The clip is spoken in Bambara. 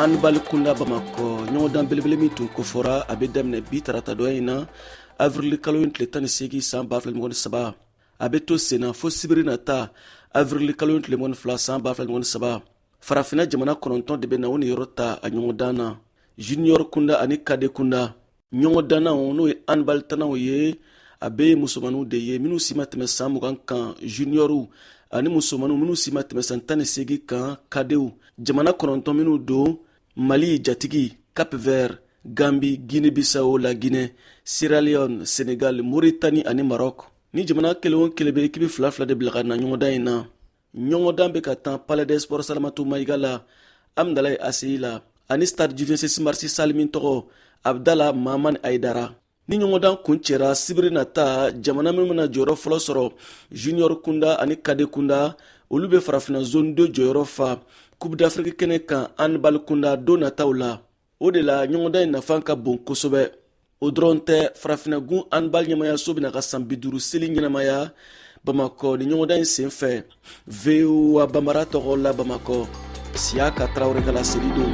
anbali kunda bamakɔ ɲɔgɔndan belebele min tun kofɔra a bɛ daminɛ bi tarata don in na avrili kalo in tile tan ni seegin san ba fila mugan ni saba a bɛ to senna fo sibiri nata avrili kalo in tile mugan ni fila san ba fila mugan ni saba farafinna jamana kɔnɔntɔn de bɛna u niyɔrɔ ta a ɲɔgɔndan na junior kunda ani kade kunda ɲɔgɔndannaw n'o ye anbali tannaw ye a bɛɛ ye musomanninw de ye minnu si ma tɛmɛ san mugan kan juniyɔriw ani musomanninw minnu si ma tɛmɛ san tan ni seegin kan kadew jamana kɔnɔntɔn minnu don mali jatigi cap vert gambi guinɛ bissau la guinɛ sierra leone senegal mauritanie ani maroc ni jamana kelen o kelen bɛ ekipi fila fila de bila ka na ɲɔgɔndan in na ɲɔgɔndan bɛ ka tan palais des sports salamatu mayiga la amdalayi aseyi la ani stade du vingt-six marisi sali min tɔgɔ abdala mamani ayidara ni ɲɔgɔndan kuncɛra sibiri nata jamana minnu bɛna jɔyɔrɔ fɔlɔ sɔrɔ junior kunda ani kade kunda olu bɛ farafina zone 2 jɔyɔrɔ fa coupe d'afriki kɛnɛ kan anbali kunda don nataw la o de la ɲɔgɔndan in nafa ka bon kosɛbɛ o dɔrɔn tɛ farafinagun anbali ɲɛmaayaso bɛna a ka san bi duuru seli ɲɛnamaya bamakɔ ni ɲɔgɔndan in sen fɛ voa bambara tɔgɔ la bamakɔ siyaka tarawele ka laseli don